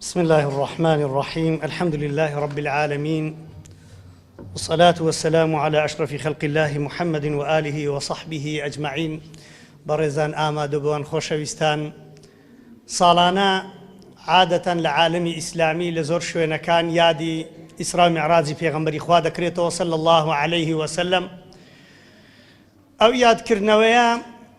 بسم اللە الرحمن الرحیم الحمد للە رب العالمین والصلاة والسلام على أشرف خلق الله محمد وآله وصحبه أجمعين بەڕێزان ئامادەبووان خۆشەویستان ساڵانە عادەتەن لە عالمی ئیسلامی لە زۆر شوێنەکان یادی ئیسرا معراجی پێغمبەری خوا دەکرێتەوە سەل الله عليه وسلم ئەو یادکردنەوەیە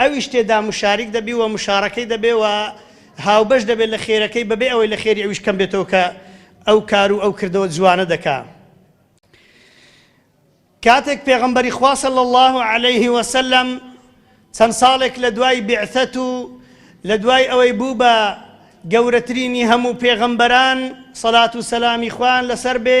ئەویش تێدا مشاریک دەبی و مشارەکەی دەبێ و هاوبەش دەبێ لە خێرەکەی بەبێ ئەوەی لە خێری ئەویش کەم بێتەوە کە ئەو کار و ئەو کردەوە جوانە دەکا. کاتێک پێغەمبەری خوا صلی اللە علیه وسلم چەند ساڵێک لە دوای بیعثەت و لە دوای ئەوەی بوو بە گەورەترینی هەموو پێغەمبەران صلات و سەلامی خوایان لەسەر بێ،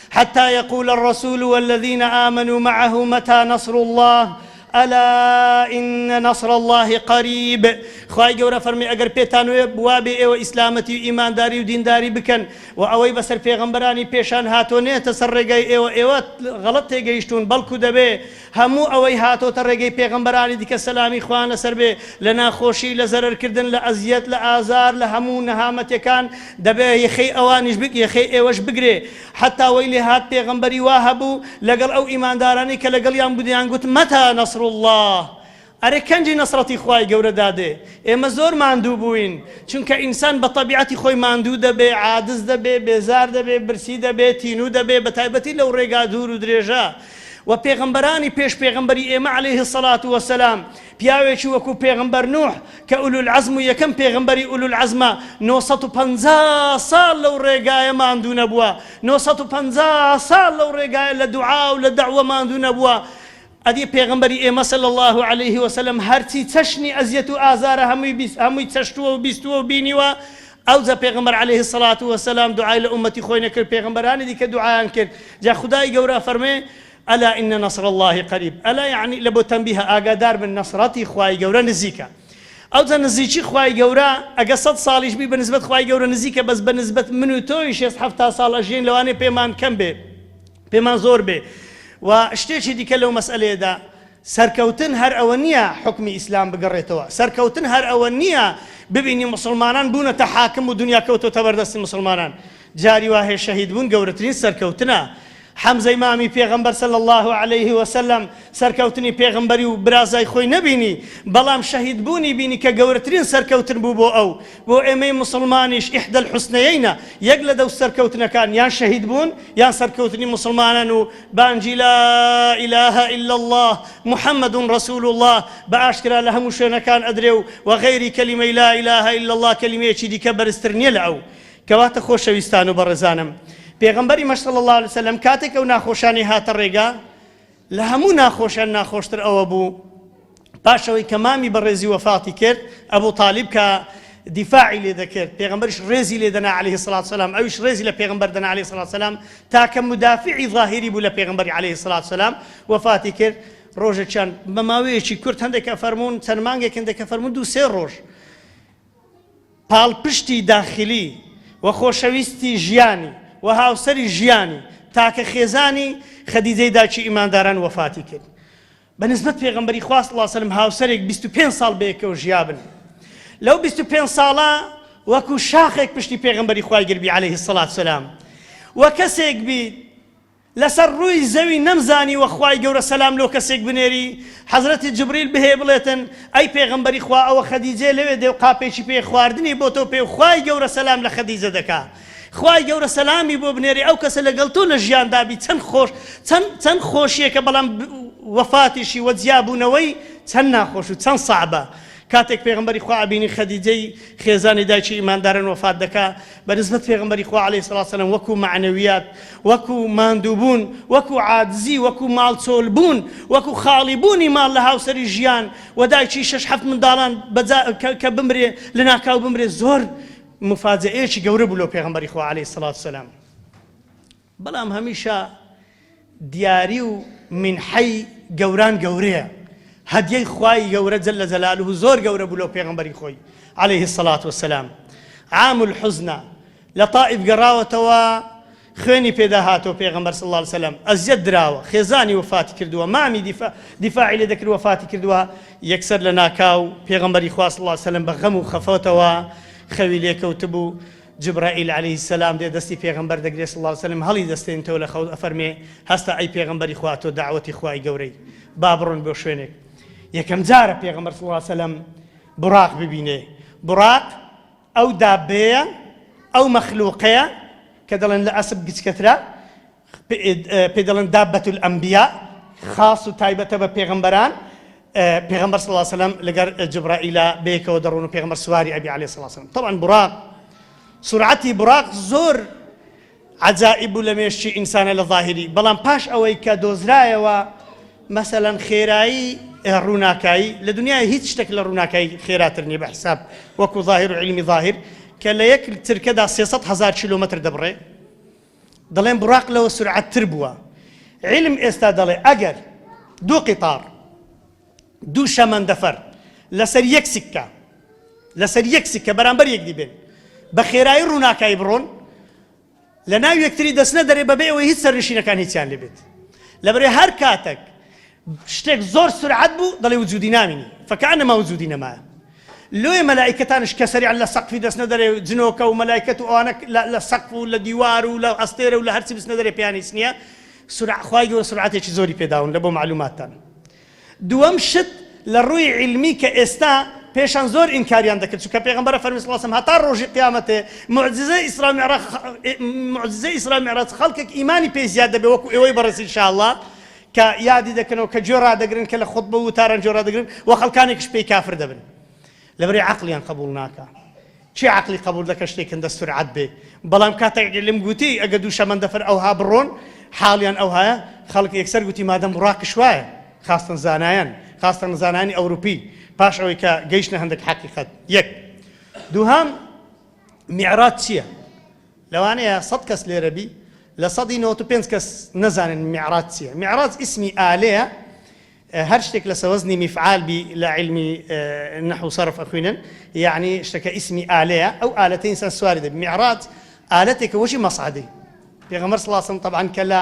حتی یقول الرسول والذین آمنوا معه متی نصر الله الا ان نصر الله قریب خوای گەورە فەرمی ئەگەر پێتان وێ بوابێ ئێوە ئیسلامەتی و ئیمانداری و دینداری بکەن و ئەوەی بەسەر پێغەمبەرانی پێشان هاتوە نێتە سەر ڕێگای ئێوە ئێوە غەڵەت تێگەیشتون بەڵکو دەبێ هەموو ئەوەی هاتۆتە ڕێگەی پێغەمبەرانی دیکە سەلامی خوان لەسەر بێ لە ناخۆشی لە زەرەر کردن لە ئەزیەت لە ئازار لە هەموو نەهامەتێکان دەبێ یەخەی ئەوانیش بگ یەخەی ئێوەش بگرێ حەتا وەی لێ هات پێغەمبەری وا هەبوو لەگەڵ ئەو ئیماندارانەی کە لەگەڵیان بوو دەیان گوت مەتا نەسڕوڵڵا ئەرێ کەنجی نەسڕەتی خوای گەورە دادێ ئێمە زۆر ماندوو بووین چونکە ئینسان بە تەبیعەتی خۆی ماندوو دەبێ عادز دەبێ بێزار دەبێ برسی دەبێ تینوو دەبێ بە تایبەتی لەو ڕێگا دوور و درێژە وە پێغەمبەرانی پێش پێغەمبەری ئێمە علیه الصلوة والسلام پیاوێکی وەکو پێغەمبەر نوح کە ئولو العزم و یەکەم پێغەمبەری ئولو العزمە 950 ساڵ لەو ڕێگایە ماندوو نەبووە 950 ساڵ لەو ڕێگایە لە دوعا و لە دەعوە ماندوو نەبووە ئەدی پێغەمبەری ئێمە صلی اللە علیە وسلم هەرچی چەشنی ئەزیەت و ئازارە هەمووی بیست هەمووی چەشتووە و بیستووە و بینیوە ئەوجە پێغەمبەر علیە الصلوة والسلام دوعای لە ئومەتی خۆی نەکرد پێغەمبەرانی دیکە دوعایان کرد جا خودای گەورە ئەفەرموێ الا ان نصر اللە قریب الا یەعنی لە بۆ تەنبیهە ئاگادار بن نەسڕەتی خوای گەورە نزیکە ئەوجە نزیکی خوای گەورە ئەگە سەد ساڵیش بی بە نسبەت خوای گەورە نزیکە بەس بە نسبەت من و تۆی شێست حەفتا ساڵ ئەژیین لەوانەیە پێمان کەم بێ پێمان زۆر بێ و شتێکی دیکە لەو مەسئەلەیەدا سەرکەوتن هەر ئەوە نییە حوکمی ئیسلام بگەڕێتەوە، سەرکەوتن هەر ئەوە نییە ببینی موسڵمانان بوونەتە حاکم و دنیا کەوتۆتە بەر دەستی موسڵمانان، جاری وا هەیە شەهید بوون گەورەترین سەرکەوتنە، حەمزەی مامی پێغەمبەر صلی اللە علیه و سلم سەرکەوتنی پێغەمبەری و برازای خۆی نەبینی، بەڵام شەهید بوونی بینی کە گەورەترین سەرکەوتن بوو بۆ ئەو، بۆ ئێمەی موسڵمانیش احدی الحسنیینە، یەک لە دەو سەرکەوتنەکان یان شەهید بوون یان سەرکەوتنی موسڵمانان و بانگی لا الە الا اللە محمد رسول اللە بە ئاشکرا لە هەموو شوێنەکان ئەدرێ و وە غەیری کەلیمەی لا الە الا اللە کەلیمەیەکی دیکە بەرزتر نیە لە ئەو. کەواتە خۆشەویستان و بەڕێزانم پێغەمبەریمەش صلی اللە علیە وسلم کاتێک ئەو ناخۆشانەی هاتە ڕێگا لە هەموو ناخۆشیان ناخۆشتر ئەوە بوو پاش ئەوەی کە مامی بەڕێزی وەفاتی کرد، ئەبو تالیب کە دیفاعی لێ دەکرد، پێغەمبەریش ڕێزی لێ دەنا علیە الصلوة والسلام، ئەویش ڕێزی لە پێغەمبەر دەنا علیە الصلوة والسلام، تاکە مدافعی ظاهری بوو لە پێغەمبەری علیە الصلوة والسلام، وەفاتی کرد، ڕۆژێکیان بە ماوەیەکی کورت هەندێک ئەفەرموون چەند مانگێکن دەکەفەرموون دوو سێ ڕۆژ، پاڵپشتی داخلی و خۆشەویستی ژیانی و هاوسەری ژیانی تاکە خێزانی خەدیجەی دایکی ئیمانداران وەفاتی کرد بە نسبەت پێغەمبەری خوا صلی اللە وسلم هاوسەرێک بیست و پێنج ساڵ بەیەکەوە ژیابن لەو بیست و پێنج ساڵە وەکو شاخێک پشتی پێغەمبەری خوای گربی علیه الصلاة والسلام و کەسێک بیت لەسەر ڕووی زەوی نەمزانیوە خوای گەورە سەلام لۆ کەسێک بنێری حەزرەتی جبریل بهێ بڵێتن ئەی پێغەمبەری خوا ئەوە خەدیجەیە لەوێ دێ و قاپێکی پێیە خواردنی بۆتۆ پێ و خوای گەورە سەلام لە خەدیجە دەکا خوای گەورە سەلامی بۆ بنێری ئەو کەسە لەگەڵ تۆ لە ژیاندا بی چەند خۆش چەند چەند خۆشیەکە بەڵام وەفاتیشی وە جیابوونەوەی چەند ناخۆش و چەند سەعبە کاتێک پێغەمبەری خوا ئەبینی خەدیجەی خێزانی دایکی ئیماندارن وەفات دەکا بەنسبەت پێغەمبەری خوا علیە سڵات وسلام وەکو مەعنەویات وەکو ماندووبوون وەکو عادزی وەکو ماڵ چۆل بوون وەکو خاڵی بوونی ماڵ لە هاوسەری ژیان و دایکی شش حەفت منداڵان کە بمرێ لە ناکاو بمرێ زۆر مفاجەیەکی گەورە بوو لۆ پێغەمبەری خوا علیە سڵات وسلام بەڵام هەمیشە دیاری و مینحەی گەوران گەورەیە، هەدیەی خوای گەورە جل جلالە زۆر گەورە بوو لۆ پێغەمبەری خۆی علیە الصلوة والسلام، عام الحزنە لە طائف گەڕاوەتەوە خوێنی پێدا هاتووە پێغەمبەر صلی اللە علیە وسلم ئەزیەت دراوە خێزانی وەفاتی کردووە مامی دیفا دیفاعی لێ دەکرد وەفاتی کردووە یەکسەر لە ناکاو پێغەمبەری خوا صلی اللە علیە وسلم بە غەم و خەفەتەوە خەوی لێ کەوتبوو جبرائیل علیە السلام دێ دەستی پێغەمبەر دەگرێ صلی اللە علیە وسلم هەڵی دەستێنێتەوە لە خەوت ئەفەرمێ هەستە ئەی پێغەمبەری خوا تۆ دەعوەتی خوای گەورەی با بڕۆن بۆ شوێنێک یەکەم جارە پێغەمبەر صلی اللە علیە وسلم بڕاق ببینێ بڕاق ئەو دابەیە ئەو مەخلوقەیە کە دەڵێن لە ئەسپ گچکەترە پێی دەڵێن دابەت الانبیاء، خاص و تایبەتە بە پێغەمبەران، پێغەمبەر صلی اللە وسلم لەگەر جبرائیلە بەیەکەوە دەڕۆن و پێغەمبەر سواری ئەبی علیە الصلوة والسلام طبعا براق سرعتی براق زۆر عجائب و لە مێشکی ئینسانە لە ظاهری بەڵام پاش ئەوەی کە دۆزرایەوە مەسەلەن خێرایی ڕووناکایی لە دنیای هیچ شتێک لە ڕووناکایی خێراتر نیە بە حساب وەکو ظاهر و علمی ظاهر کە لە یەک ترکەدا 300 هزار کیلومتر دەبڕێ دەڵێن بوراق لەوە سورعەت تر بووە عیلم ئێستا دەڵێ ئەگەر دوو قیتار دوو شەمەندەفەر لەسەر یەک سکە لەسەر یەک سکە بەرامبەر یەکدی بێن بە خێرایی ڕووناکایی بڕۆن لە ناو یەکتری دەستنە دەرێ بەبێ ئەوەی هیچ سەرنشینەکان هیچیان لێبێت لەبرێ هەر کاتەک شتێک زۆر سورعەت بوو دەڵێ وجودی نامینی فکانما وجودی نەمایە لۆیە مەلائیکەتانش کە سەریعن لە سەقفی دەچنە دەرێ جنۆکە و مەلائیکەت و ئەوانە لە سەقف و لە دیوار و لە ئەستێرە و لە هەرچی بچنە دەرێ پێیان هیچ نییە سورع خوای گەورە سورعەتێکی زۆری پێداون لە بۆ معلوماتتان دووەم شت لە ڕووی علمی کە ئێستا پێشان زۆر ئینکاریان دەکرد چونکە پێغەمبەر فەرمی صلی الله علیه و سلم هەتا ڕۆژی قیامەتێ معجزە ئیسرا معراج معجزە ئیسرا معراج خەڵکێک ئیمانی پێی زیاد دەبێ وەکو ئێوەی بەڕێز ان شاء الله کە یادی دەکەنەوە کە گوێ ڕادەگرن کە لە خوتبە و وتاران گوێ ڕادەگرن وە خەڵکانێکش پێی کافر دەبن لەبەرەی عەقڵیان قبوڵ ناکا کێ عەقڵی قبوڵ دەکە شتێک هەندە سورعەت بێ بەڵام کاتێک علم گوتی ئەگە دوو شەمەندەفەر ئەوها بڕۆن حاڵیان ئەوهایە خەڵک یەکسەر گوتی مادەم بوڕاقیش وایە خاستن زانایان خاستن زانانی ئەوروپی پاش ئەوەی کە گەیشتە هەندێک حەقیقەت یەک دووهام میعراج چییە؟ لەوانەیە سەد کەس لێرە بی لە سەدی نەوەتو پێنج کەس نەزانن میعراج چیە میعراج ئیسمی ئالەیە هەر شتێک لەسە وەزنی میفعال بی لە عیلمی نەحو سەرف ئەخوینن یەعنی شتەکە ئیسمی ئالەیە ئەو ئالەتە ئینسان سواری دەبی میعراج ئالەتێکە وەکی مەسعەدی پێغەمبەر صلی اللە علیە وسلم طبعا کە لە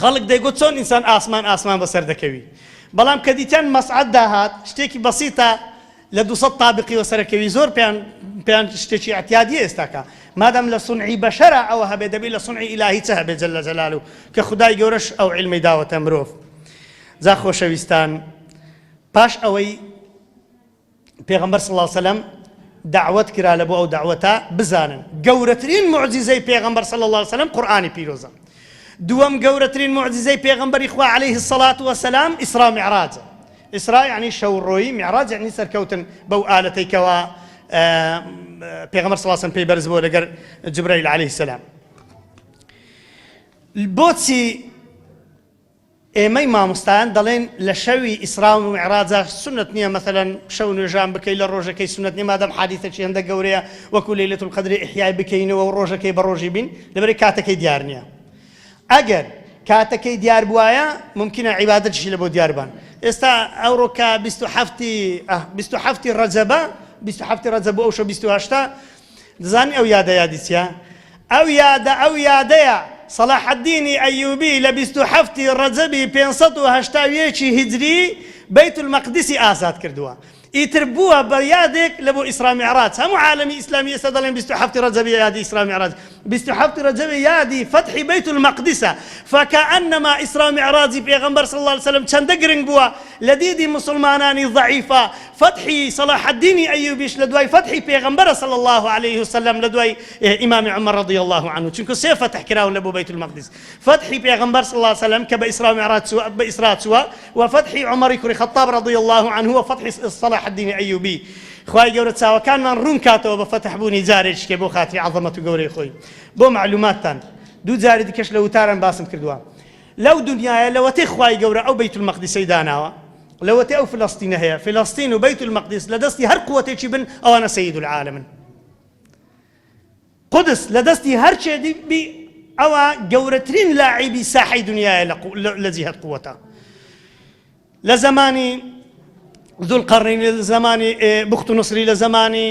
خەڵک دەیگوت چۆن ئینسان ئاسمان ئاسمان بەسەر دەکەوی؟ بەڵام کە دیتیان مەسعەد داهات شتێکی بەسیتە لە دوو سەد تابقی وەسەر ئەکەوی زۆر پێیان پێیان شتێکی ئیعتیادیە ئێستاکە مادام لە سونعی بەشەرا ئەوە هەبێ دەبی لە سونعی ئیلاهی چ هەبێ جل جلالو کە خودای گەورەش ئەو عیلمەی داوەتە مرۆڤ جا خۆشەویستان پاش ئەوەی پێغەمبەر صلی اللە علیە وسلم دەعوەت کرا لەبۆ ئەو دەعوەتە بزانن گەورەترین معجزەی پێغەمبەر صلی اللە علیە وسلم قورئانی پیرۆزە دووەم گەورەترین معجزەی پێغەمبەری خوا علیه الصلاة والسلام ئیسرا معراج ئیسرا یعنی شەوڕۆی معراج یعنی سەرکەوتن بەو ئالەتەی کەوا پێغەمبەر صلی اللە علیه وسلم پێی بەرز بۆ لەگەر جبرائیل علیه السلام بۆچی ئێمەی مامۆستایان دەڵێن لە شەوی ئیسراء و میعراجا سوننەت نیە مەسەلەن شەو نوێژان بکەی لە ڕۆژەکەی سوننەت نیە مادام حادیسەکی هەندەک گەورەیە وەکو لەیلەت القدر ئیحیای بکەینەوە و ڕۆژەکەی بە ڕۆژی بین لەبەرەی کاتەکەی دیار نیە ئەگەر کاتەکەی دیار بوایە مومکینە عیبادەتیشی لەبۆ دیار بان ئێستا ئەوڕۆ کە بیست و حەفتی بیست و حەفتی ڕەجەبە بیست و حەفتی ڕەجەب بۆ ئەو شەو بیست و هەشتە دەزانی ئەو یادە یادی چیە؟ ئەو یادە ئەو یادەیە سەڵاحەدینی ئەیوبی لە بیست و حەفت ی ڕەجەبی پێنج سەد و هەشتا و یەک ی هیجری بەیت المەقدیسی ئازاد کردووە ئیتر بووە بە یادێک لە بۆ ئیسرا میعراج هەموو عالەمی ئیسلامی ئێستا دەڵێن بیست و حەفت ی ڕەجەبیە یادی ئیسرا میعراج بیست و حەفت رەجەبی یادی فەتحی بەیت المەقدسە فکانما ئیسراو میعراجی پێغەمبەر صلی اللە علیە وسلم چەندە گرنگ بووە لە دیدی موسڵمانانی ضعیفا فەتحی صلاح الدینی ئەیوبیش لە دوای فەتحی پێغەمبەرە صلی اللە علیە وسلم لە دوای ئیمام عمر رضی اللە عنه چونکە سێ فەتح کراون لە بۆ بەیت المەقدس فەتحی پێغەمبەر صلی اللە علیە وسلم کە بە ئیسراو میعراج چووە بە ئیسرا چووە وە فەتحی عمری کوڕی خەتاب رضی اللە عنه وە فەتحی صلاح الدینی ئەیوبی خوای گەورە چاوەکانمان ڕوون کاتەوە بە فەتح بوونی جارێکیکە بۆ خاتری عەزەمەت و گەورەی خۆی بۆ مەعلوماتتان دوو جاری دیکەش لە وتاران باسم کردووە لەو دنیایە لەوەتەی خوای گەورە ئەو بەیت المەقدیسەی داناوە لەوەتەی ئەو فلەستینە هەیە فلەستین و بەیت المەقدیس لە دەستی هەر قوەتێکی بن ئەوانە سەید العالمن قودس لە دەستی هەرکێ بی ئەوا گەورەترین لاعیبی ساحەی دنیایە لە لە جیهەت قووەتا لە زەمانی ذوالقرنین لە زەمانی بخت و نصری لە زەمانی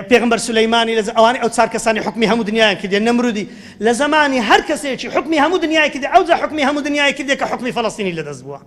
پێغمبەر سلەیمانی لە ئەوانی ئەو چار کەسانی حکمی هەموو دنیایان کردێن نەمرودی لە زمانی هەر کەسێکی حکمی هەموو دنیای کردێ ئەو جا حکمی هەموو دنیای کردێ کە حکمی فلستینی لەدەست بووە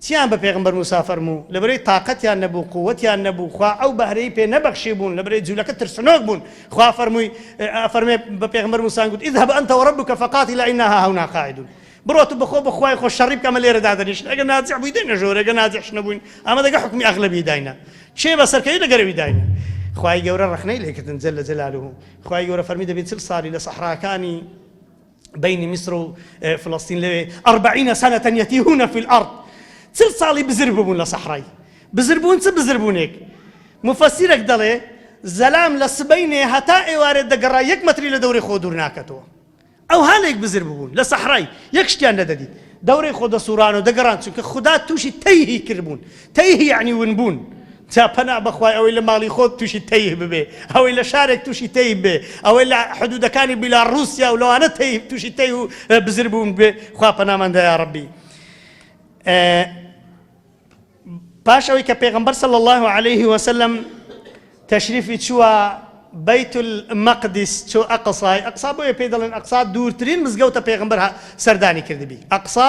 چیان بە پێغەمبەر موسا فەرموو لەبەرەی تاقەتیان نەبوو قوتیان نەبوو خوا ئەو بەهرەی پێ نەبەخشیبوون لەبەرەی جولەکە ترسنۆک بوون خوا فەرمووی ئەفەرمێ بە پێغەمبەر موسا گوت اذهب انت وربک فقاتلا انا هاهنا قاعدون بڕۆ تو بەخۆ بە خوای خۆ شەڕی بکە ئەمە لێرە دادەنیشن ئەگەر نازع بووی دێنە ژۆرێ ئەگەر نازعش نەبووین ئەمە دەگە حوکمی ئەغلەبی داینە کێ بەسەرکەوی لە گەرەوی داینە خوای گەورە ڕەخنەی لێ کردن جل جلاله خوای گەورە فەرمی دەبی چل ساڵی لە سەحراکانی بەینی میسر و فلستین لەوێ اربعین سنە یتیهون فی الارض چل ساڵی بزر ببوون لە سەحرای بزر بوون چ بزر بوونێک مفەسیرێک دەڵێ زەلام لە سبەینێ هەتا ئێوارێ دەگەڕا یەک مەتری لە دەورەی خۆ دوور ناکەتەوە ئەو هاانێک بزر ببوون لە سەحرای یەک شتیان نەدەدیت دەورەی خۆ دەسووران و دەگەڕان چونکە خوددا تووشی تەیهی کردبوون تەیهی عنی ونبوون جا پەنا بەخوای ئەوەی لە ماڵی خۆت توشی تەیه ببێ ئەوەی لە شارێک توشی تەیه بێ ئەوەی لە حدودەکانی بیلا روسیا و لەوانە تەیه توشی تەیه و بزر بوون بێ خوا پەنامان دا یاڕەبی پاش ئەوەی کە پێغمبەر صلی الله عليه وسلم تەشریفی چووە بەیت المەقدس چۆ ئەقسای ئەقسا بۆیە پێی دەڵێن ئەقسا دوورترین مزگەوتە پێغمبەر سەردانی کردبی ئەقسا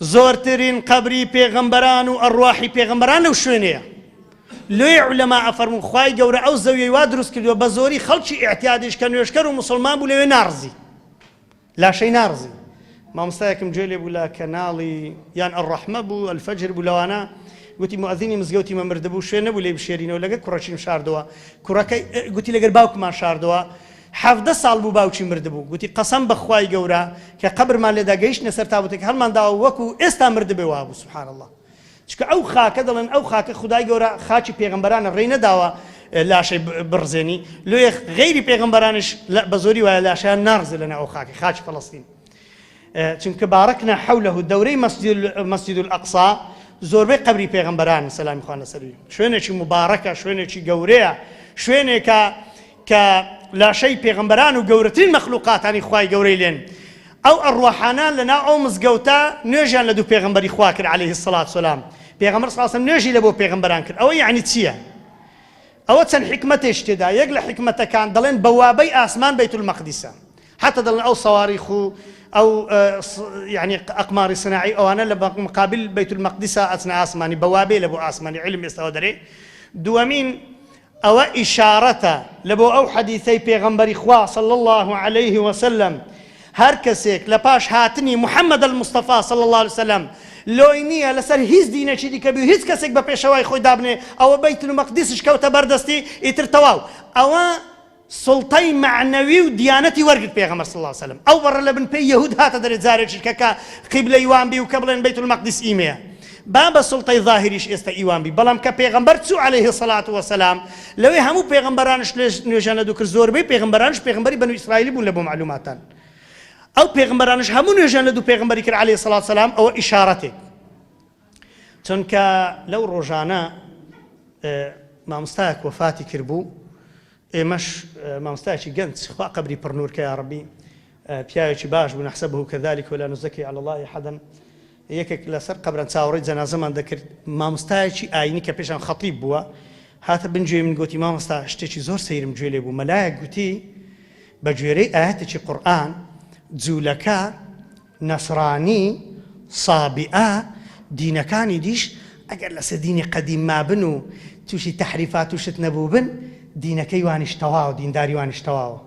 زۆرترین قەبری پێغەمبەران و ئەڕواحی پێغەمبەران لەو شوێنەیە لۆی علەما ئەفەرمون خوای گەورە ئەو زەویەی وا دروست کردووە بە زۆری خەڵکی ئیعتیادیش کە نوێژکەر و مسلمان بوو لەوێ ناڕزی لاشەی ناڕزی مامۆستایەکم گوێ لێ بوو لە کەناڵی یان ئەڕەحمە بوو ئەلفەجر بوو لەوانە گوتی مؤذینی مزگەوتی مەمرد بوو شوێن نەبوو لێ بشێرینەوە لەگەر کوڕەکیم شاردەوە کوڕەکەی گوتی لەگەر باوکمان شاردەوە حەڤدە ساڵ بوو باوکی مردبوو گوتی قەسەم بە خوای گەورە کە قەبرمان لێدا گەیشتنە سەر تابوتەکە هەڵمان داوە وەکو ئێستا مردبێ وابوو سبحان اللە چکە ئەو خاکە دەڵێن ئەو خاکە خودای گەورە خاکی پێغمبەرانە ڕێی نەداوە لاشەی بڕزێنی لۆیە غەیری پێغمبەرانش بەزۆری وایە لاشەیان ناڕزێ لەناو ئەو خاکە خاکی فەڵەستین چونکە بارکنا حوله دەورەی مسجد الاقصی زۆربەی قەبری پێغەمبەران سەلامی خوان لەسەری شوێنێکی مبارەکە شوێنێکی گەورەیە شوێنێکە کە لاشەی پێغەمبەران و گەورەترین مەخلوقاتانی خوای گەورەی لێن ئەو ئەڕوەحانە لەنا ئەو مزگەوتە نوێژیان لە دوو پێغمبەری خوا کرد عليه سلات سلام پێغمبەر ساسم نوێژی لە بۆ پێغمبەران کرد ئەوە یعنی چییە؟ ئەوە چەند حکمەتێش تێدا یەک لە حکمەتەکان دەڵێن بەوابەی ئاسمان بیت المەقدیسە حتا دەڵێن ئەو سەواریخ و ئەو یانی ئەقماری سناعی ئەوانە لە مقابل بیت المقدسا ئەچنە ئاسمانی بە وابێ لە بۆ ئاسمانی عیلم ئێستا ئەوە دەرێ دووەمین ئەوە ئیشارەتە لە بۆ ئەو حەدیثەی پێغەمبەری خوا صلی اللە علیه وسلم هەر کەسێک لە پاش هاتنی محمد المصطفی صلی اللە علیه وسلم لۆی نییە لەسەر هیچ دینێکی دیکە بی هیچ کەسێک بە پێشەوای خۆی دابنێ ئەوە بیت المقدسش کەوتە بەردەستی ئیتر تەواو ئەوە سوڵتەی مەعنەوی و دیانەتی وەرگرت پێغەمبەر صلی اللە وسلم ئەو بەڕە لە بن پێی یەهود هاتە دەرێ جارێکیش کە کە قیبلەی وان بی و کە بڵێن بیت المقدس ئیمەیە با بە سوڵتەی ظاهریش ئێستا ئیوان بی بەڵام کە پێغەمبەر چوو علیه صلات وسلام لەوێ هەموو پێغەمبەرانش نوێژیان لە دوو کرد زۆربەی پێغەمبەرانش پێغەمبەری بەنو ئیسرائیلی بوون لە بۆ معلوماتان ئەو پێغەمبەرانش هەموو نوێژیان لە دوو پێغەمبەری کرد علیه صلات وسلام ئەوە ئیشارەتێک چونکە لەو ڕۆژانە مامۆستایەک وەفاتی کردبوو ئێمەش مامۆستایەکی گەنج خوا قەبری پڕ نوورکە یا ڕەبی پیاوێکی باش بوو نەحسەبه کەذلك ولا نزکی علی الله احدا یەکێک لەسەر قەبران چاوەڕێی جەنازەمان دەکرد مامۆستایەکی ئاینی کە پێشان خەتیب بووە هاتە بن گوێی من گوتی مامۆستا شتێکی زۆر سەیرم گوێ لێ بوو مەلایەک گوتی بە گوێرەی ئاەتێکی قورآن جوولەکە نەسرانی، سابیئە، دینەکانی دیش ئەگەر لەسەر دینی قەدیم مابن و تووشی تەحریفات و شت نەبووبن، دینەکەی وانیش تەواوە، دینداری وانیش تەواوە.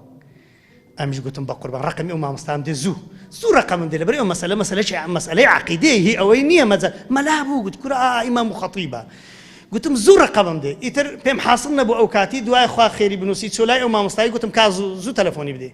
ئەمنیش گوتم بەقوربان ڕەقەمی ئەو مامۆستام دێ زوو، زوو ڕەقەمم دێ، لەبەر ئەو مەسەلە مەسەلەکی عە، مەسەلەی عەقیدەیە هی ئەوەی نییە مەجە، مەلا بوو گوت کورە ئا ئیمام و خەتیبە. گوتم زوو ڕەقەمم دێ. ئیتر پێم حاسڵ نەبوو ئەو کاتی، دوای خوا خێری بنووسی، چووە لای ئەو مامۆستای گوتم کا زوو، زوو تەلەفۆنی بدەی.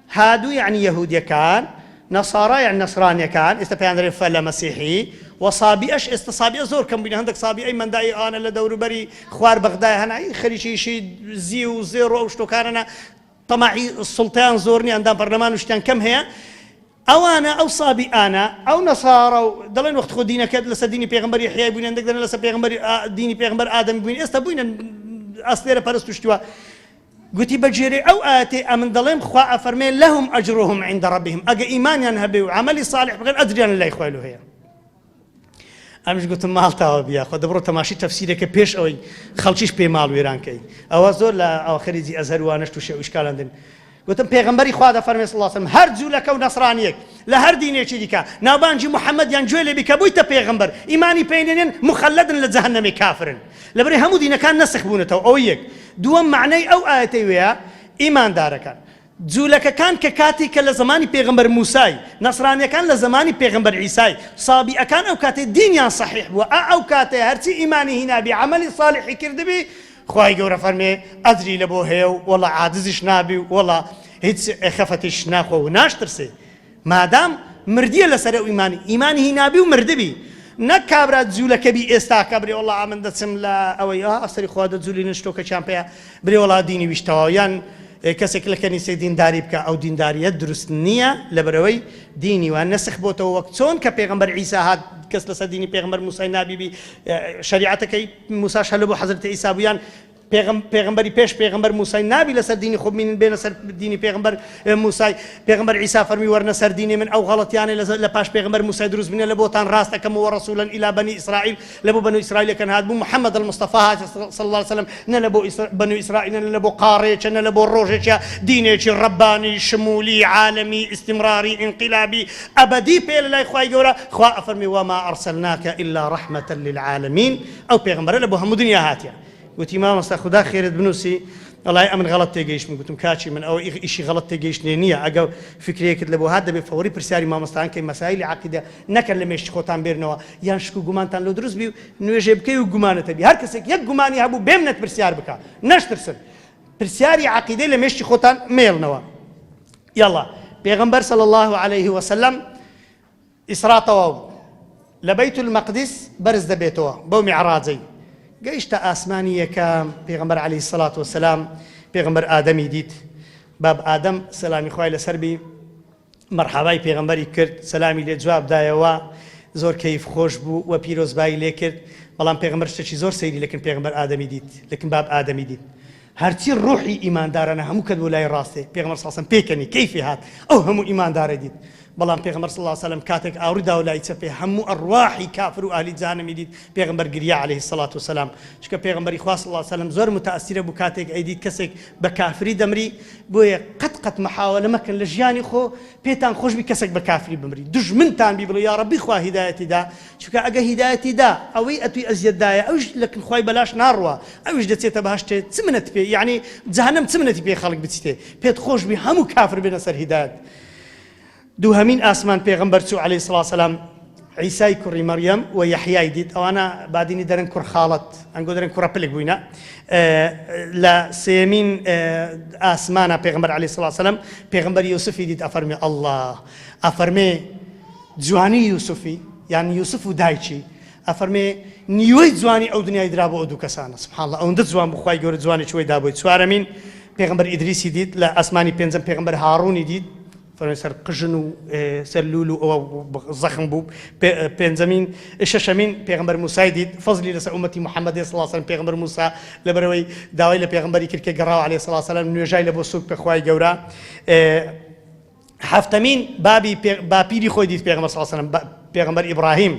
هادو یەعنی یەهودیەکان، نەسارا یەعنی نەسرانیەکان، ئێستا پێیان دەرێن فەلە مەسیحی، وە سابیئەش ئێستا سابیئە زۆر کەم بوینە هەندەک سابیئەی مەندائی ئانە لە دەوروبەری خوار بەغدایە هەنە ئی خەریکی ئیشی زیو و زێڕ و ئەو شتوکانەنە تەماعی سوڵتەیان زۆر نیە ئەندام پەرلەمان و شتیان کەم هەیە ئەوانە ئەو سابیئانە ئەو نەسارا و دەڵێن وەخت خۆ دینەکەت لەسەر دینی پێغەمبەر یەحیای بوینە هەندەک دەلێن لەسەر پێغەمبەر دینی پێغەمبەر ئادەمی بوینە ئێستا بوینە ئەستێرە پەرست و شتوا گوتی بە گوێرەی ئەو ئایەتەی ئەمن دەڵێم خوا ئەفەرمێ لەهم ئەجرهم عند ربهم ئەگە ئیمانیان هەبێ و عەمەلی صالح بکەن ئەجریان لە لای خوای لۆ هەیە ئەمش گوتم ماڵتاوە بیا خۆ دەبڕۆ تەماشی تەفسیرەکە پێش ئەوەی خەڵکیش پێی ماڵ وێرانکەی ئەوە زۆر لە ئاخریجی ئەزهر وانەش تووشێ ئوشکالاندن گوتم پێغمبەری خوا دە فەرمێ سڵاسم هەر جوولەکە و نەسرانیەک لە هەر دینێکی دیکە ناوبانجی محەممەد یان گوێ لێبی کە بوویتە پێغمبەر ئیمانی پێینێن مخەلدن لە جەهنەمی کافرن لەبەرەی هەموو دینەکان نەسخ بوونەتەوە ئەوە یەک دووەم مەعنای ئەو ئایەتەی وەیە ئیماندارەکان جولەکەکان کە کاتی کە لە زەمانی پێغەمبەر موسای نەسرانیەکان لە زەمانی پێغەمبەر عیسای سابیئەکان ئەو کاتەی دینیان سەحیح بووە ئا ئەو کاتەیە هەرچی ئیمانی هینابی عەمەلی سالیحی کردبی خوای گەورە فەرمێ ئەجری لەبۆ هەیە و وەڵا عاجزیش نابی و وەڵا هیچ خەفەتیش ناخوا و ناشترسێ مادام مردیە لەسەر ئەو ئیمانی ئیمانی هینابی و مردبی نەک کابرا جولەکەبی ئێستاکە برێ وەڵا ئەمن دەچم لە ئەوەی ئا ئەفسەری خوا دە جولی نشتۆ کە چیان پێە برێ وەڵا دینی ویش تەواو یان کەسێک لە کەنیسەی دینداری بکە ئەو دینداریە دروست نییە لەبەرەوەی دینی وان نەسخ بۆتەوە وەک چۆن کە پێغمبەر عیسا هات کەس لەسەر دینی پێغمبەر موسای نابیبی شریعەتەکەی موساش هەلە بۆ حەزرەتی عیسابوویان پێغم پێغمبەری پێش پێغمبەر موسای نابی لەسەر دینی خۆ بمینن بێنە سەر دینی پێغمبەر موسای پێغمبەر عیسا فەرمی وەرنە سەر دینی من ئەو غەڵەتیانە لە لە پاش پێغمبەر موسای دروست بنە لە بۆتان ڕاست ئەکەم و ڕسولەن ئیلا بەنی ئیسرائیل لە بۆ بەنو ئیسرائیلەکەن هات بوو محمد المستەفا هات صلی الله علیه وسلم نە لە بۆ بەنو ئیسرائیل نە لە بۆ قاڕێچە نە لە بۆ ڕۆژێکە دینێکی ڕەبانی شمولی عالمی ئیستیمڕاری ئینقلابی ئەبەدی پێ لە لای خوای گەورە خوا ئەفەرمی وەما ئەرسەلناکە ئیلا ڕەحمەتە للعالمین ئەو پێغمبەرە لە بۆ هەموو دنیا هاتیە گوتی مامۆستا خودا خێرت بنوسی ئەڵای ئەمن غەڵەت تێگەیشتم گوتم کاکی من ئەوە ئیغ ئیشی غەڵەت تێگەیشتنێ نیە ئەگەو فکرێکت لەبۆ هات دەبێ فەوری پرسیاری مامۆستایان کەی مەسایلی عەقیدە نەکەن لە مێشک خۆتان بێرنەوە یان شک و گومانتان لۆ دروست بی و نوێژێ بکەی و گومانت هەبی هەر کەسێک یەک گومانی هەبوو بێمنەت پرسیار بکا نەشترسن پرسیاری عەقیدەی لە مێشکی خۆتان مێڵنەوە یەڵا پێغەمبەر صلی اللە علیه وسلم ئیسرا تەواو بوو لە بەیت المەقدیس بەرز دەبێتەوە بەو میعڕاجەی گەیشتە ئاسمانی یەکەم پێغەمبەر علیە الصلوة والسلام پێغەمبەر ئادەمی دیت باب ئادەم سەلامی خوای لەسەر بی مەرحەبای پێغەمبەری کرد سەلامی لێ جواب دایەوە زۆر کەیف خۆش بوو و پیرۆزبایی لێ کرد بەڵام پێغەمبەر شتێکی زۆر سەیری لەکن پێغەمبەر ئادەمی دیت لەکن باب ئادەمی دیت هەرچی ڕۆحی ئیماندارانە هەموو کەت بۆ لای ڕاستێ پێغەمبەر صلی سم پێکەنی کەیفی هات ئەو هەموو ئیماندارە دیت بەڵام پێغەمبەر صلی اللە سلم کاتێک ئاوڕی داو لای چەپێ هەموو ئەڕواحی کافر و ئەهلی جەهەنەمی دیت پێغەمبەر گریا علیە الصلوة والسلام چونکە پێغەمبەری خوا صلی اللە سلم زۆر متاثرە بوو کاتێک ئەیدیت کەسێک بە کافری دەمری بۆیە قەت قەت محاولە مەکەن لە ژیانی خۆ پێتان خۆش بی کەسێک بە کافری بمری دوژمنتان بی بڵێ یا ربی خوا هیدایەتی دا چونکە ئەگە هیدایەتی دا ئەوەی ئەتوی ئەزیەت دایە ئەویش لە کن خوای بەلاش ناڕوا ئەویش دەچێتە بەهەشتێ چ منەت پێ یەعنی جەهەنەم چ منەتی پێ خەڵک بچیتێ پێت خۆش بی هەموو کافر بێنە سەر هیدایەت دووهەمین ئاسمان پێغەمبەر چوو عەلەیهی سڵاو سەلام عیسای کوڕی مەڕیەم و یەحیای دیت ئەوانە بادینی دەرن کوڕ خاڵەت ئەنگۆ دەرن کوڕە پلک بووینە لە سێمین ئاسمانە پێغمبەر عەلەیهی سڵاو سەلام پێغمبەر یوسفی دیت ئەفەرمێ ئەڵڵا ئەفەرمێ جوانی یوسفی یان یوسف و دایکی ئەفەرمێ نیوەی جوانی ئەو دنیای درا بۆ ئەو دوو کەسانە سبحان اللە ئەوەندە جوان بوو خوای گەورە جوانێکی وەی دا بۆی چوارەمین پێغەمبەر ئیدریسی دیت لە ئاسمانی پێنجەم پێغەمبەر هاڕوونی دیت فەرمێ سەر قژن و سەر لول و ئەوە زەخم بوو پێنجەمین شەشەمین پێغمبەر موسای دیت فەزلی لەسەر ئومەتی محەممەدی سڵاسەن پێغمبەر موسا لەبەرەوەی داوای لە پێغمبەری کرد کە گەڕاو عليه سلاسەلام نوێژای لە بۆ سوک پێخوای گەورە حەفتەمین بابی پێ باپیری خۆی دیت پێغەمبەر صلی اللە علیە و سلم پێغەمبەر ئیبراهیم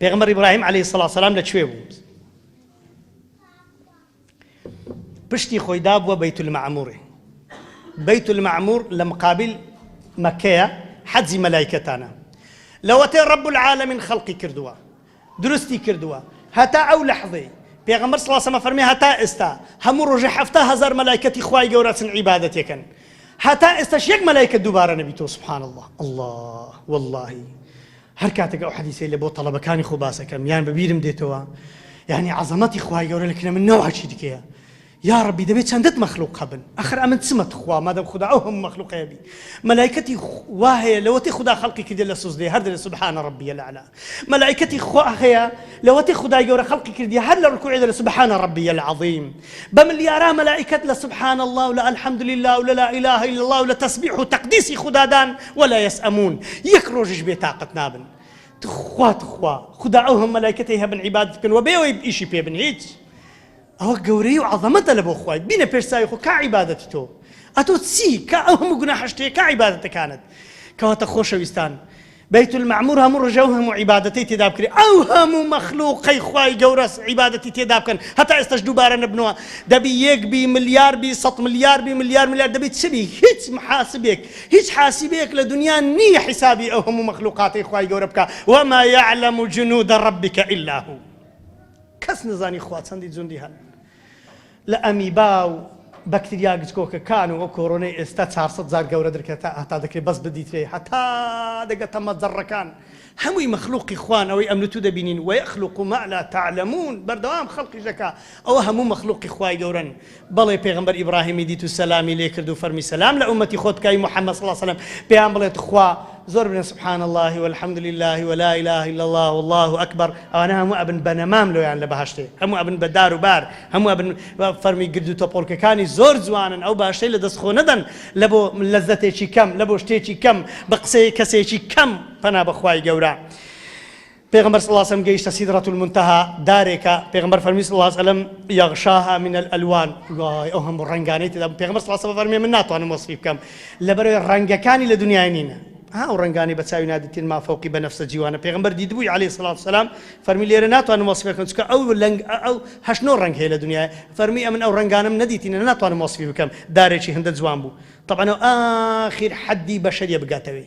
پێغەمبەر ئیبراهیم علیه السلام لە کوێ بوو پشتی خۆی دابووە بەیت المعموری بەیت المعمور لە مقابل مەکەیە حەجی مەلایکەتانە لەوەتێ رب العالمین خەڵقی کردووە دروستی کردووە هەتا ئەو لەحزەی پێغەمبەر صلی اللە علیە وسلم فەرمی هەتا ئێستا هەموو ڕۆژێ حەفتا هەزار مەلایکەتی خوای گەورە ئەچن عیبادەتی ئەکەن هەتا ئێستاش یەک مەلایکەت دووبارە نەبیتەوە سبحان اللە اللە واللەهی هەر کاتێک ئەو حەدیسەی لە بۆ تەڵەبەکانی خۆ باسەکەم یان بەبیرم دێتەوە یعنی عەزەمەتی خوای گەورە لە کنە من نەوعەکی دیکەیە یاڕەبی دەبێ چەندت مەخلوق هەبن ئەخر ئەمن چمە تخوا مادەم خودا ئەو هەموو مەخلوق هەیەبی مەلایکەتی وا هەیە لەوەتەی خودا خەڵقی کردیە لە سوزدەیە هەر دەلێ سبحان ربی الاعلی مەلایکەتی خوا هەیە لەوەتەی خودای گەورە خەڵقی کردیە هەر لە رکوعی دەلێ سبحان ربی العظیم بە ملیارا مەلایکەت لە سبحان اللە و لە الحمد للە و لە لا اله الا اللە و لە تەسبیح و تەقدیسی خودادان ولا یسئمون یەک رۆژیش بێ تاقەت نابن تخوا تخوا خودا ئەو هەموو مەلایکەتەی هەبن عیبادەت بکەن و بێ ئەوەی ئیشی پێ بن هیچ ئەوە گەورەی و عەزەمەتە لە بۆ خوای بینە پێش چاوی خۆ کا عیبادەتی تۆ ئەتۆ چی کا ئەو هەموو گوناحەش تێ کا عیبادەتەکانت کەواتە خۆشەویستان بەیت المەعمور هەموو ڕژە و هەموو عیبادەتی تێدا بکرێ ئەو هەموو مەخلوقەی خوای گەورەس عیبادەتی تێدا بکەن هەتا ئێستاش دووبارە نەبنەوە دەبی یەک بی ملیار بی سەد ملیار بی ملیار ملیار دەبی چ بی هیچ محاسبێک هیچ حاسبێک لە دنیا نییە حیسابی ئەو هەموو مەخلوقاتەی خوای گەورە بکە وما يعلم جنود ربك الا هو کەس نەزانی خوا چەندی جوندی هەن لە ئەمیبا و بەکتریا گچکۆکە کان و ئەو کۆرۆنەی ئێستا چار سەد جار گەورە در کە تا هەتا دەکرێ بەس بدیترێ هەتا دەگە تە مە جەڕە کان هەمووی مە خلوقی خوان ئەوەی ئەمن تو دەبینین وە یە خلوقو مە لا تە علە مون بەردەوام خەڵقیش دەکا ئەوە هەموو مە خلوقی خوای گەورەن بەڵێ پێغەمبەر ئیبڕاهیمی دیت و سەلامی لێ کرد و فەرمی سەلام لە ئوممەتی خۆت بکە ئەی محەممەد صلی اللە علیە وسلم پێیان بڵێ تخوا زۆر بنێن سبحان اللە و الحمد للە و لا الە الا اللە و اللە اکبر ئەوانە هەموو ئەبن بە نەمام لۆیان لە بەهەشتێ هەموو ئەبن بە دار و بار هەموو ئەبن فەرمی گرد و تەپۆڵکەکانی زۆر جوانن ئەو باشەی لە دەست خۆ نەدەن لە بۆ لەزەتێکی کەم لە بۆ شتێکی کەم بە قسەی کەسێکی کەم پەنا بەخوای گەورە پێغەمبەر صلی اللە علیە وسلم گەیشتە سیدرە المنتهی، دارێکە، پێغەمبەر فەرمی صلی اللە علیە وسلم، یغشاها من الالوان، وای ئەو هەموو ڕەنگانەی تێدا بوو، پێغەمبەر صلی اللە علیە وسلم فەرمی، من ناتوانم وەسفی بکەم، لەبەرئەوەی ڕەنگەکانی لە دنیای نینە، ها ئەو ڕەنگانەی بە چاوی نادیتن ما فوقی بنفس جیوانە، پێغەمبەر دیتبووی علیە الصلوة والسلام، فەرمی، لێرە ناتوانم وەسفی بکەم، چونکە ئەو لەنگ ئەو هەشت نۆ ڕەنگ هەیە لە دنیا، فەرمی، ئەمن ئەو ڕەنگانەم نەدیتنە ناتوانم وەسفی بکەم، دارێکی هندە جوان بوو، تەبعەن ئەو ئاخیر حەدی بەشەریە بگاتەوی.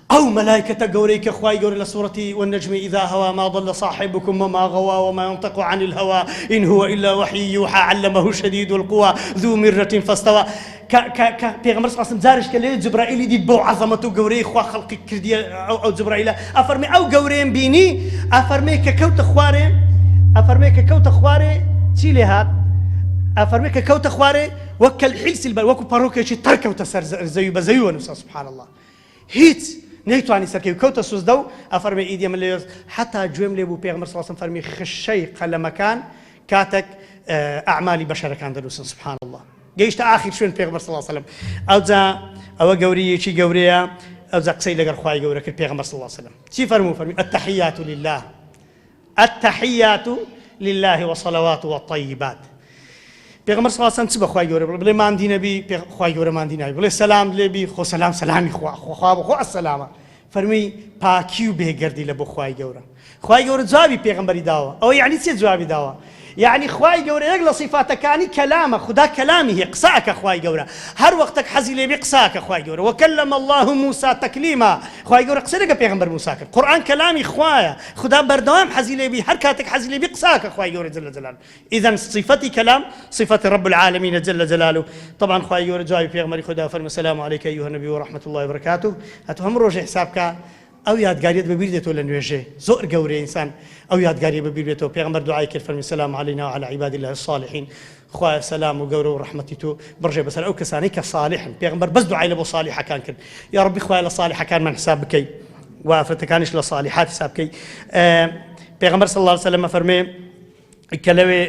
ئەو مەلایکەتە گەورەی کە خوای گەورە لە سورەتی، والنجم اذا هوا ما ضل صاحبکم وما غوا وما ينطق عن الهوا ان هو الا وحی یوحی علمه شدید القوا ذو مرة فاستوا، کە کە کە پێغەمبەر صلی اللە علیە وسلم جارێک کە لەوێ جەبرائیلی دیت بەو عەزەمەت و گەورەیەی خوا خەڵقی کردیە ئەو ئەو جەبرائیلە ئەفەرمێ ئەو گەورەیەم بینی ئەفەرمێ کە کەوتە خوارێ ئەفەرمێ کە کەوتە خوارێ چی لێ هات ئەفەرمێ کە کەوتە خوارێ وە کەلحیلسیل بەر وەکو پەڕۆکێکی تەڕ کەوتە سەر زە زەوی بە زەوی وەنوسا سبحان اللە. هیچ نەیتوانی سەرکەوی و کەوتە سوزدە و ئەفەرمێ ئیدی من لەوێ حەتا گوێم لێ بوو پێغەمبەر صلی اللە علیە وسلم فەرمی خشەی قەلەمەکان کاتەک ئەعمالی بەشەرەکان دەنووسن سبحان اللە گەیشتە ئاخیر شوێن پێغەمبەر صلی اللە علیە وسلم ئەوجا ئەوە گەوریەکی گەورەیە ئەوجا قسەی لەگەر خوای گەورە کرد پێغەمبەر صلی اللە علیە وسلم چی فەرموو فەرمی التحیات للە التحیات للە و الصلوات و الطیبات پێغەمبەر صلی اللە علیە و سلم چ بە خوای گەورە بڵێ بڵێ ماندی نەبی پێغ خوای گەورە ماندی ناوی بڵێ سەلام لێ بی خۆ سەلام سەلامی خوا خۆ خوا بۆ خۆ السلامە فەرمی پاکی و بێگەردی لە بۆ خوای گەورە خوای گەورە جوابی پێغەمبەری داوە ئەوە یعنی چێ جوابی داوە یەعنی خوای گەورە یەک لە سیفاتەکانی کەلامە خودا کەلامی هەیە قسە ئەکا خوای گەورە هەر وەختەک حەزی لێ بی قسە ئەکا خوای گەورە وکلم اللە موسی تکلیما خوای گەورە قسەی لەگەڵ پێغەمبەر موسی کرد قورئان کەلامی خوایە خودا بەردەوام حەزی لێ بی هەر کاتەک حەزی لێ بی قسە ئەکا خوای گەورە جل جلالە ئیزن سیفەتی کەلام سیفەتی رب العالمینە جل جلالە طبعا خوای گەورە جوابی پێغەمبەری خۆی دا فەرموو سلام علیک ایها النبی ورحمة اللە وبرکاته ئەتو هەموو رۆژێ حساب کا ئەو یادگاریەت بەبیر دێتەوە لە نوێژێ زۆر گەورەیە ئینسان ئەو یادگاریە بەبیر بێتەوە پێغەمبەر دوعای کرد فەرمی سلام علینا و علی عباد اللە الصالحین خوایە سەلام و گەورە و ڕەحمەتی تۆ بڕژێ بەسەر ئەو کەسانەی کە صالحن پێغەمبەر بەس دوعای لە بۆ صالحەکان کرد یا ڕبی خوایە لە صالحەکانمان حساب بکەی و ئافرەتەکانیش لە صالحات حساب بکەی پێغەمبەر صلی الله علیه وسلم فەرمێ کە لەوێ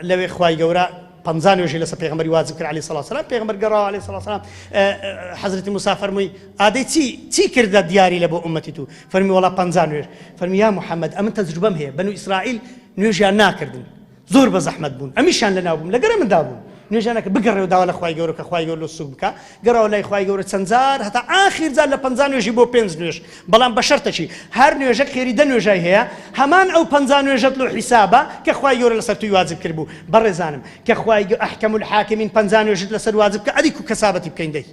لەوێ خوای گەورە پەنجا نوێژی لەسەر پێغمبەری واجب کرد علی سڵ سلام پێغمبەر گەڕاوە علی سڵ سلام حەزرەتی مسافەرمووی ئادەی چی چی کردە دیاری لە بۆ ئومەتی تو فەرمی وڵا پ نوێژ فەرمی یا محەممەد ئەمن تەجروبەم هەیە بەن و ئیسرائیل نوێژیان ناکردن زۆر بە زەحمت بوون ئەمیشان لە ناوبووم لەگەرە مندا بوون نوێژانەکە بگەڕێ و داوا لە خخوای گەورە کە خخوای گەور لە سوک بکە گەڕاوە لای خوای گەورە چەند جار هەتا ئاخیر جار لە پەنجا نوێژی بۆ پێنج نوێژ بەڵام بە شەرتەکی هەر نوێژەک خێری دە نوێژای هەیە هەمان ئەو پەنجا نوێژەت لۆ حیسابە کە خوای گەورە لەسەر توی واجب کردبوو بەڕێزانم کە خوای گە احکم الحاکمین پەنجا نوێژت لەسەر واجب کە ئەدی کو کەسابەتی بکەین دەی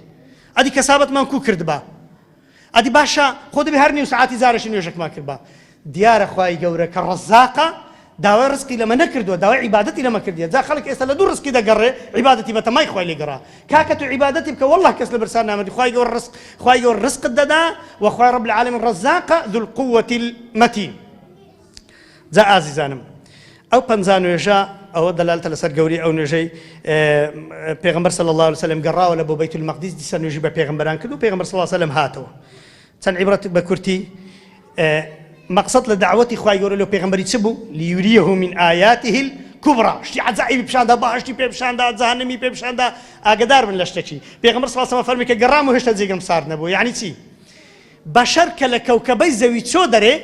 ئەدی کەسابەتمان کو کردبا ئەدی باشە خۆ دەبێ هەر نیو سەعاتی جارەشی نوێژەکمان کردبا. دیارە خوای گەورە کە ڕەزاقە داوای ڕزقی لەمە نەکردووە داوای عیبادەتی لەمە کردیە جا خەڵک ئێستا لە دوو ڕزقی دەگەڕێ عیبادەتی بە تەمای خوای لێ گەڕا کاکە تۆ عیبادەتی بکە واللە کەس لە برسان نامردی خوای گەورە ڕزق خوای گەورە ڕزقت دەدا و خوای رب العالمین ڕەزاقە ذو القووەتی المتین جا ئازیزانم ئەو پەنجا نوێژە ئەوە دەلالتە لەسەر گەوری ئەو نوێژەی پێغمبەر صلی الله علیه وسلم گەڕاوە لە بۆ بیت المقدس دیسە نوێژی بە پێغمبەران کرد و پێغمبەر صلی الله علیه وسلم هاتەوە چەند عیبرەت بە کورتی مقصد لە دعوەتی خوای گەورە لە پێغمبەری چ بوو لیوریه من آیاته کوبرا شتی عجائبی پیشاندا باشی پێ پیشاندا جانمی پێ پیشاندا ئاگدار بن لە شتەکی پێغمبەر صلی الله علیه وسلم فەرمی کە گەڕام و هێشتا جێگەم سارد نەبوو یعنی چی بەشەر کە لە کەوکەبەی زەوی چۆ دەرێ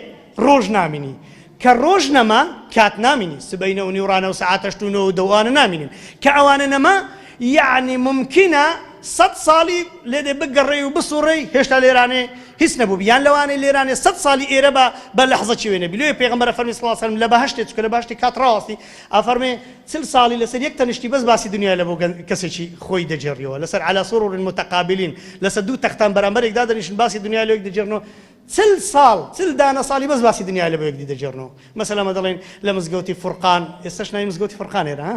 ڕۆژ نامینی کە ڕۆژ نەما کات نامینی سبەینە و نیوڕانە و سەعات هەشت و نۆ و دە و ئەوانە نامینن کە ئەوانە نەما یەعنی مومکینە سەد ساڵی لێدێ بگەڕێی و بسوڕێی هێشتا لێرانێ هیچ نەبووبی یان لەوانەی لێرانێ سەد ساڵی ئێرە بە بە لەحزەکی وێ نەبی لۆیە پێغەمبەر فەرمی سڵاو سەلم لە بەهەشتێ چکە لە بەهەشتی کات ڕاوەستی ئەفەرمێ چل ساڵی لەسەر یەک تەنشتی بەس باسی دنیای لە بۆ گەنج کەسێکی خۆی دەگێڕیەوە لەسەر علی سرر متقابلین لەسە دوو تەختان بەرامبەرێک دادەنیشن باسی دنیای لۆ یەکدی دەگێڕنەوە چل ساڵ چل دانە ساڵی بەس باسی دنیای لە بۆ یەکدی دەگێڕنەوە مەسەلەن ئەمە دەڵێن لە مزگەوتی فرقان ئێستەش ناوی مزگەوتی فرقان ئێرە ها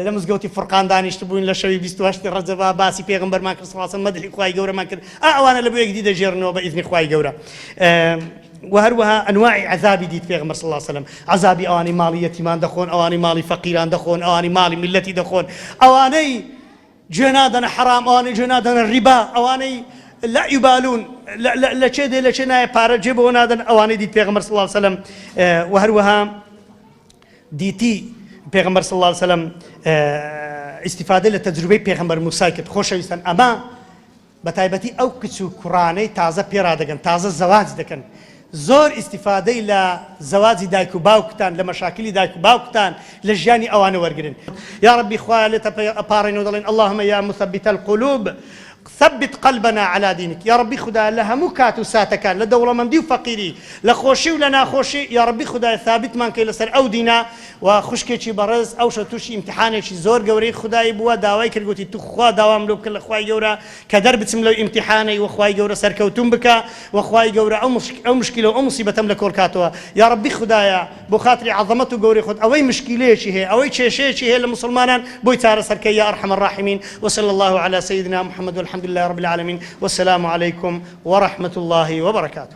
لە مزگەوتی فرقان دانیشتبووین لە شەوی 28 ڕەجەبا باسی پێغەمبەرمان کرد سڵاڵسەلام مەدحی خوای گەورەمان کرد ئا ئەوانە لە بۆ یەکدی دەگێڕنەوە بە ئیزنی خوای گەورە وە هەروەها ئەنواعی عەزابی دیت پێغەمبەر صلی اللە علیە وسلم عەزابی ئەوانەی ماڵی یەتیمان دەخۆن ئەوانەی ماڵی فەقیران دەخۆن ئەوانەی ماڵی میللەتی دەخۆن ئەوانەی جوێ نادەنە حەرام ئەوانەی جوێ نادەنە ڕیبا ئەوانەی لا یبالون لە چێ دێ لە چێ نایە پارە جێ بەوە نادەن ئەوانەی دیت پێغەمبەر صلی اللە علیە وسلم وە هەروەها دیتی پێغەمبەر صلی اللە علیە وسلم ئیستیفادە لە تەجروبەی پێغەمبەر موسی کرد خۆشەویستان ئەمە بەتایبەتی ئەو کچ و کوڕانەی تازە پێرادەگەن تازە زەواج دەکەن زۆر ئیستیفادەی لە زەواجی دایک و باوکتان لە مەشاکلی دایک و باوکتان لە ژیانی ئەوانە وەرگرن یاڕەبی خوایە لێتە ئەپاڕێنەوە دەڵێن اللهم یا مثبت القلوب ثبت قلبنا على دینک یاڕەبی خودایە لە هەموو کات و ساتەکان لە دەوڵەمەندی و فەقیری لە خۆشی و لە ناخۆشی یاڕەبی خودایە ثابتمان کەی لەسەر ئەو دینە و خوشکێکی بەڕێز ئەوشە توشی ئیمتیحانێکی زۆر گەورەی خودایی بووە داوای کرد گۆتی توخوا داوام لۆ بکە لە خوای گەورە کە دەربچم لەو ئیمتیحانەی وە خوای گەورە سەرکەوتوم بکە وە خوای گەورە ئەو مشکیلە و ئەو موسیبەتەم لە کۆل کاتەوە یاڕەبی خودایە بۆ خاتری عەزەمەت و گەورەی خۆت ئەوەی مشکیلەیەکی هەیە ئەوەی کێشەیەکی هەیە لە موسڵمانان بۆی چارەسەر کە یا ارحم الراحمین وصلی اللە علی سیدنا محمد والحمد للە رب العالمین والسلام علیکم ورحمة اللە وبرکاته